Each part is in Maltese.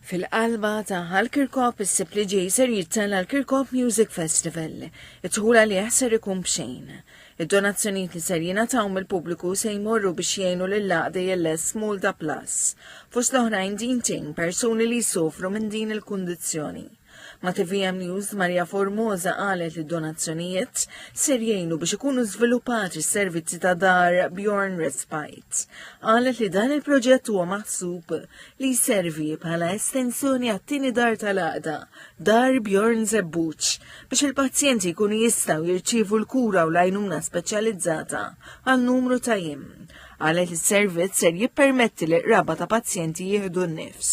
Fil-qalba ta' Hal Kirkop issib li ġej ser jittella l-Kirkop Music Festival. Id-dħul għalih ser ikun b'xejn. Id-donazzjonijiet li ser jingħataw mill-pubbliku se jmorru biex jgħinu lill-għaqda JLS Malta Plus. Fost l-oħrajn din tgħin persuni li jsofru minn din il-kundizzjoni. Ma' TVM News Maria Formosa qalet li donazzjonijiet ser jgħinu biex ikunu żviluppati s-servizzi ta' dar Bjorn Respite. Qalet li dan il-proġett huwa maħsub li jservi bħala estensjoni għat-tieni dar tal-għaqda, dar Bjorn Zebbuċ, biex il-pazjenti jkunu jistgħu jirċievu l-kura u l-għajnuna speċjalizzata għal numru ta' jiem. Qalet li s-servizz ser jippermetti li qraba ta' pazjenti jieħdu n-nifs.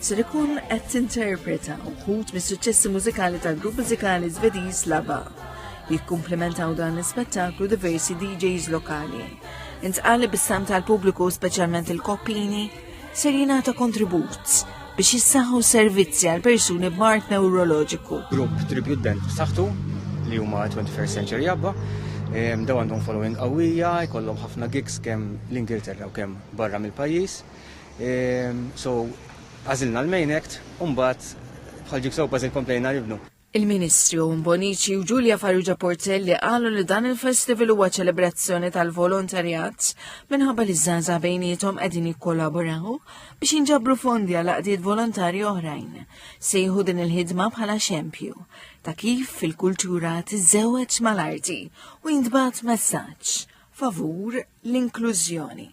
ser ikun qed tinterpreta wħud mis-suċċessi mużikali tal-grupp mużikali Żvediż Lava. Jikkumplementaw dan l-ispettaklu diversi DJs lokali. Intqali bis-sam tal-pubbliku speċjalment il-koppini ser jingħata kontribut biex jissaħħu servizzi għal persuni b'mart neuroloġiku. Grupp tribute band b'saħħtu li huma 21st Century Abba daw għandhom following qawwija, jkollhom ħafna gigs kemm l-Ingilterra u kemm barra mill-pajjiż. Ehm, so, għażilna l-Main Act, u mbagħad bħal jigsaw puzzle komplejna nibnu. Il-Ministri Owen Bonici u Giulia Farrugia Portelli qalu li dan il-festival huwa ċelebrazzjoni tal-volontarjat minħabba li żgħaża bejnietom qegħdin jikkollaboraw biex jinġabru fondi għal qdiet volontarji oħrajn. Sejħu din il-ħidma bħala xempju ta' kif fil-kultura tiżewweġ mal-arti u jintbagħat messaġġ favur l-inklużjoni.